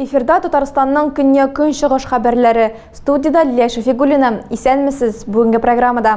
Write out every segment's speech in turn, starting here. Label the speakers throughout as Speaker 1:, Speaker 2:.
Speaker 1: Эфирда Татарстанның көнья-көнчыгыш хәбәрләре. Студида Лилия Шәфигуллина. Исәнмесез. Бүгенге программада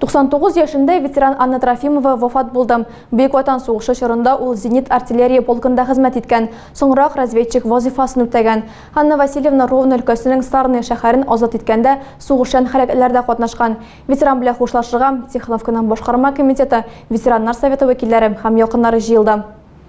Speaker 1: 99 яшендә ветеран Анна Трофимова вафат булды. Бөек Ватан сугышы чорында ул зенит артиллерия полкында хезмәт иткән, соңрак разведчик вазифасын үтәгән. Анна Васильевна Ровно өлкәсенең Сарны шәһәрен азат иткәндә сугышчан хәрәкәтләрдә катнашкан. Ветеран белән хушлашырга Тихоновканың башкарма комитеты, ветераннар советы вәкилләре һәм якыннары җыелды.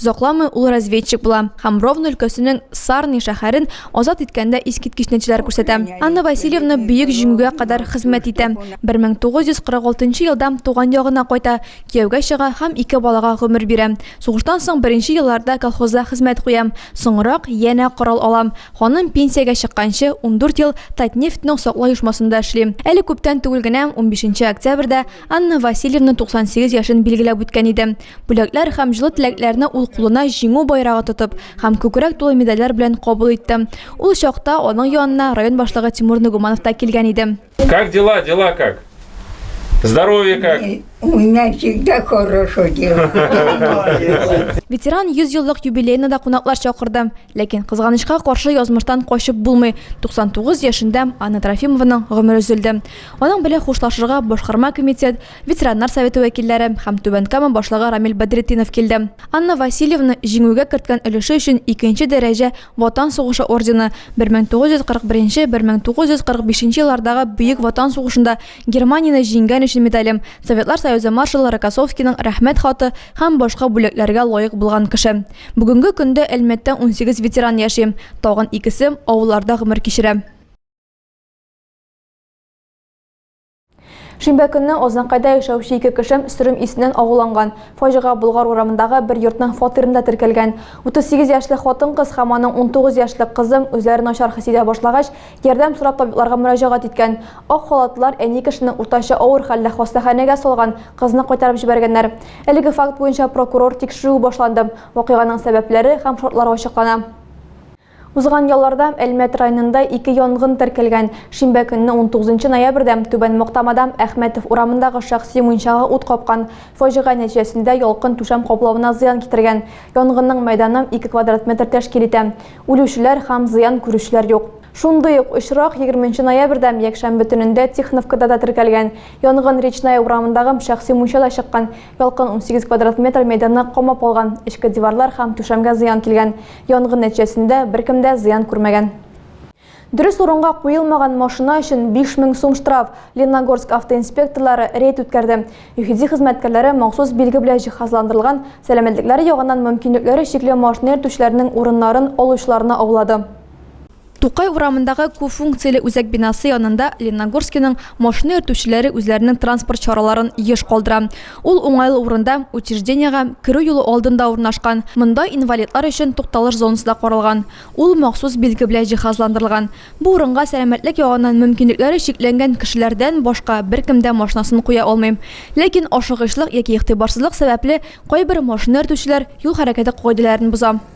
Speaker 1: Озакламый ул разведчик була һәм Ровно өлкәсенең Сарни шәһәрен азат иткәндә искиткеч нәтиҗәләр күрсәтә. Анна Васильевна Бөек Җиңүгә кадәр хезмәт итә, 1946 нчы елда туган ягына кайта, кияүгә чыга һәм ике балага гомер бирә. Сугыштан соң беренче елларда колхозда хезмәт куям, соңрак янә корал алам. Ханым пенсиягә чыкканчы ундүрт ел Татнефтьның саклау оешмасында эшли. Әле күптән түгел генә, унбишенче октябрьдә, Анна Васильевна 98 яшен билгеләп үткән иде. Бүләкләр һәм җылы теләкләрне ул кулына җиңү байрагы тотып һәм күкрәк тулы медальләр белән кабул итте. Ул чакта аның янына район башлыгы Тимур Нугуманов та килгән иде. Как дела, дела
Speaker 2: как? Здоровье как? У меня
Speaker 3: всегда хорошо дело.
Speaker 1: Ветеран 100 еллык юбилеена да кунаклар чакырды. Ләкин кызганычка каршы язмыштан качып булмый, 99 яшендә Анна Трофимованың гомере өзелде. Аның белән хушлашырга Башкарма комитет, ветераннар советы вәкилләре һәм Түбән Кама башлыгы Рамил Бәдретдинов килде. Анна Васильевна җиңүгә керткән өлеше өчен икенче дәрәҗә Ватан сугышы ордены, 1941, 1945 еллардагы Бөек Ватан сугышында Германияне җиңгән өчен медале, Советлар Союзы маршалы Рокоссовскийның Рәхмәт хаты һәм башка бүләкләргә лаек булган кеше. Бүгенге көндә Әлмәттә унсигез ветеран яши, тагын икесе авылларда гомер кичерә. Шимбә көнне Ознакайда яшәүче ике кеше сөрем исеннән агуланган. Фаҗига Болгар урамындагы бер йортның фатирында теркәлгән. 38 яшьле хатын-кыз һәм аның 19 яшьлек кызы үзләрен начар хис итә башлагач, ярдәм сорап табибларга мөрәҗәгать иткән. Ак халатлылар әни кешене уртача авыр хәлдә хастаханәгә салган, кызны кайтарып җибәргәннәр. Әлеге факт буенча прокурор тикшерүе башланды. Вакыйганың сәбәпләре һәм шартлары ачыклана. Узган ялларда Әлмәт районында ике янгын теркәлгән. Шимбә көнне, 19 ноябрьдә, Түбән Мактамада Әхмәтов урамындагы шәхси мунчага ут капкан. Фаҗига нәтиҗәсендә ялкын түшәм каплавына зыян китергән. Янгынның мәйданы ике квадрат метр тәшкил итә. Үлүчеләр һәм зыян күрүчеләр юк. Шундый ук очрак егерме нче ноябрьдә, якшәмбе төнендә, Тихоновкада да теркәлгән. Янгын Речная урамындагы шәхси мунчада чыккан. Ялкын 18 квадрат метр мәйданны камап алган, эчке диварлар һәм түшәмгә зыян килгән. Янгын нәтиҗәсендә беркем дә зыян күрмәгән. Дөрес урынга куелмаган машина өчен 5000 сум штраф. Лениногорск автоинспекторлары рейд үткәрде. ЮХИДИ хезмәткәрләре махсус билге белән җиһазландырылган, сәламәтлекләре ягыннан мөмкинлекләре чикле машина йөртүчеләрнең урыннарын алучыларны аулады. Тукай урамындагы күп функцияле үзәк бинасы янында Ленногорскиның машина йөртүчеләре үзләренең транспорт чараларын еш калдыра. Ул уңайлы урында, учреждениегә керү юлы алдында урнашкан. Монда инвалидлар өчен тукталыш зонасы да каралган. Ул махсус билге белән җиһазландырылган. Бу урынга сәламәтлек ягыннан мөмкинлекләре чикләнгән кешеләрдән башка беркем дә машинасын куя алмый. Ләкин ашыгычлык яки игътибарсызлык сәбәпле кайбер машина йөртүчеләр юл хәрәкәте кагыйдәләрен боза.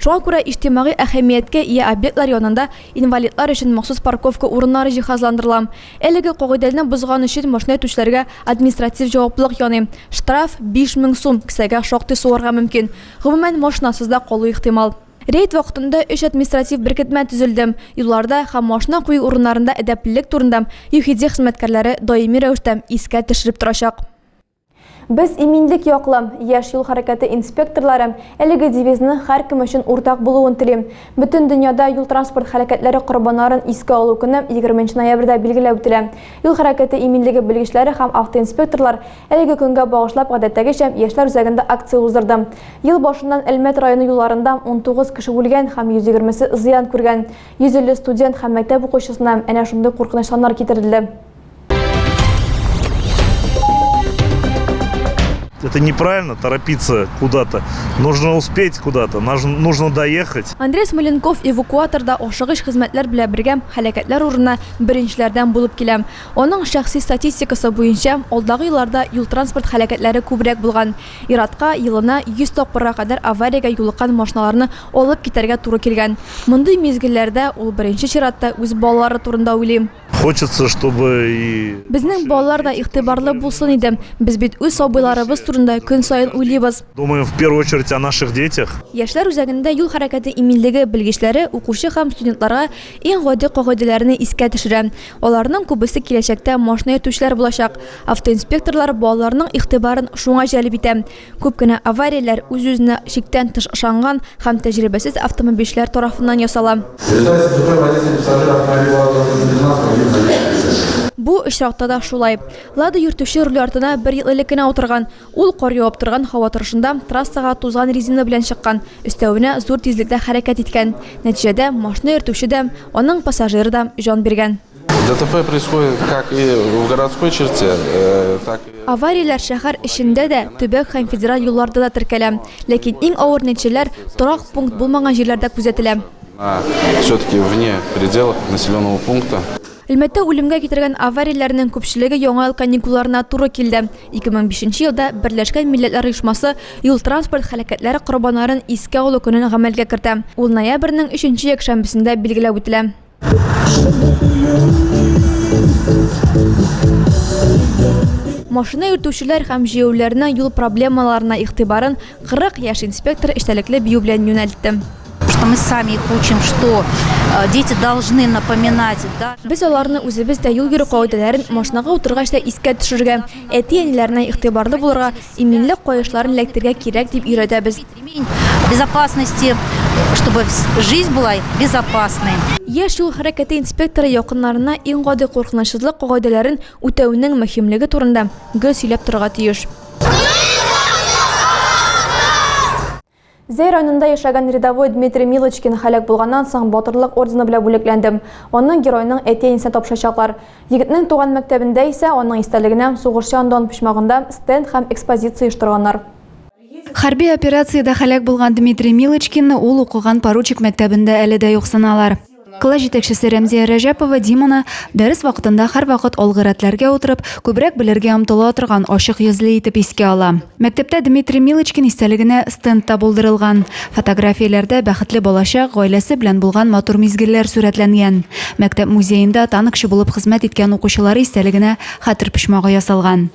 Speaker 1: Шуңа күрә иҗтимагый әһәмияткә ия объектлар янында инвалидлар өчен махсус парковка урыннары җиһазландырыла. Әлеге кагыйдәлне бозган өчен машина йөртүчеләргә административ җаваплылык яный. Штраф, 5000 сум, кесәгә шактый суырга мөмкин. Гомумән, машинасыз да калу ихтимал. Рейд вакытында өч административ беркетмә төзелде. Юлларда һәм машина кую урыннарында әдәплелек турында ЮХИДИ хезмәткәрләре даими рәвештә искә төшереп торачак. Без иминлек яклы, яшь юл хәрәкәте инспекторлары әлеге девизның һәркем өчен уртак булуын тели. Бөтен дөньяда юл-транспорт һәлакәтләре корбаннарын искә алу көне 20 нче ноябрьдә билгеләп үтелә. Юл хәрәкәте иминлеге белгечләре һәм автоинспекторлар әлеге көнгә багышлап гадәттәгечә Яшьләр үзәгендә акция уздырды. Ел башыннан Әлмәт районы юлларында 19 кеше үлгән һәм 120 се зыян күргән. 150 студент һәм мәктәп укучысына әнә шундый куркыныч саннар китерелде.
Speaker 4: Это неправильно торопиться куда-то. Нужно успеть куда-то, нужно доехать. Андрей Смоленков
Speaker 1: эвакуаторда ашыгыч хезмәтләр белән бергә хәлакәтләр урынына беренчеләрдән булып килә. Аның шәхси статистикасы буенча, алдагы елларда юл транспорт хәлакәтләре күбрәк булган. Иратка елына 100 тапкырга кадәр авариягә юлыккан машиналарны алып китәргә туры килгән. Мондый мизгелләрдә ул беренче чиратта үз балалары турында уйлый. Хочется, чтобы
Speaker 4: и... Безнең балалар да
Speaker 1: игътибарлы булсын иде. Без бит үз сабыйларыбыз турында көн саен уйлыйбыз. Думаем в первую очередь
Speaker 4: о наших детях. Яшьләр үзәгендә
Speaker 1: юл хәрәкәте иминлеге белгечләре укучы һәм студентларга иң гади кагыйдәләрне искә төшерә. Аларның күбесе киләчәктә машина йөртүчеләр булачак. Автоинспекторлар балаларның игътибарын шуңа җәлеп итә. Күп кенә аварияләр үз-үзенә чиктән тыш ышанган һәм тәҗрибәсез автомобильчеләр тарафыннан ясала. Бу очракта да шулай. Лада йөртүче руль артына бер ел элек кенә утырган. Ул кар явып торган һава торышында трассага тузган резина белән чыккан, өстәвенә зур тизлектә хәрәкәт иткән. Нәтиҗәдә машина йөртүче дә, аның пассажиры да җан биргән. ДТП происходит
Speaker 5: как и в городской черте, э, так и... Аварияләр шәһәр
Speaker 1: эчендә дә, төбәк һәм федераль юлларда да теркәлә. Ләкин иң авыр нәтиҗәләр торак пункт булмаган җирләрдә күзәтелә. Все-таки
Speaker 5: вне пределов населенного пункта. Әлмәттә үлемгә
Speaker 1: китергән аварияләрнең күпчелеге яңа ел каникулларына туры килде. 2005 елда Берләшкән Милләтләр Оешмасы юл транспорт һәлакәтләре корбаннарын искә алу көнен гамәлгә кертә. Ул ноябрьнең өченче якшәмбесендә билгеләп үтелә. Машина йөртүчеләр һәм җәяүләрнең юл проблемаларына игътибарын 40 яшь инспектор эчтәлекле бию белән юнәлтте. что мы сами
Speaker 6: их учим, что э, дети должны напоминать. Да? Без аларны
Speaker 1: үзебез дә юл йөрү кагыйдәләрен машинага утыргач та искә төшерергә, әти-әниләренә игътибарлы булырга, иминлек каешларын эләктергә кирәк дип өйрәтәбез.
Speaker 6: Яшь юл
Speaker 1: хәрәкәте инспекторы якыннарына иң гади куркынычсызлык кагыйдәләрен үтәүнең мөһимлеге турында гел сөйләп торырга тиеш. Зәй районында яшәгән рядовой Дмитрий Милочкин һәлак булганнан соң Батырлык ордены белән бүләкләнде. Аны геройның әти-әнисенә тапшырачаклар. Егетнең туган мәктәбендә исә аның истәлегенә сугышчы андон почмагында стенд һәм экспозиция оештырганнар. Хәрби
Speaker 7: операциядә һәлак булган Дмитрий Милочкинны ул укыган поручик мәктәбендә әле дә юксыналар. Класс җитәкчесе Рәмзия Рәҗәпова Диманы дәрес вакытында һәрвакыт алгы рәтләргә утырып, күбрәк белергә омтыла торган, ачык йөзле итеп искә ала. Мәктәптә Дмитрий Милочкин истәлегенә стенд та булдырылган. Фотографияләрдә бәхетле балачак, гаиләсе белән булган матур мизгелләр сурәтләнгән. Мәктәп музеенда танкчы булып хезмәт иткән укучылары истәлегенә хәтер почмагы ясалган.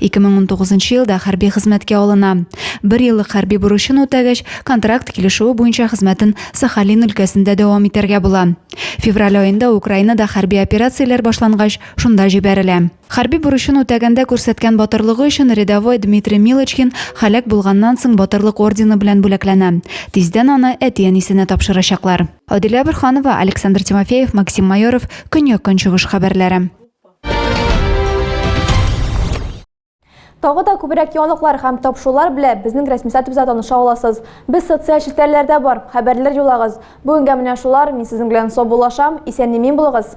Speaker 7: 2019 елда хәрби хезмәткә алына. Бер еллык хәрби бурычын үтәгәч, контракт килешүе буенча хезмәтен Сахалин өлкәсендә дәвам итәргә була. Февраль аенда Украинада хәрби операцияләр башлангач, шунда җибәрелә. Хәрби бурычын үтәгәндә күрсәткән батырлыгы өчен рядовой Дмитрий Милочкин һәлак булганнан соң Батырлык ордены белән бүләкләнә. Тиздән аны әти-әнисенә тапшырачаклар. Адилә Борһанова, Александр Тимофеев, Максим Майоров, Көньяк-Көнчыгыш хәбәрләре.
Speaker 1: Тагы да күбрәк яңалыклар һәм тапшырулар белә безнең рәсми сайтыбызда таныша аласыз. Без социаль челтәрләрдә бар, хәбәрләр юлагыз. Бүгенгә менә шулар, мин сезнең белән саубуллашам, исән-имин булыгыз.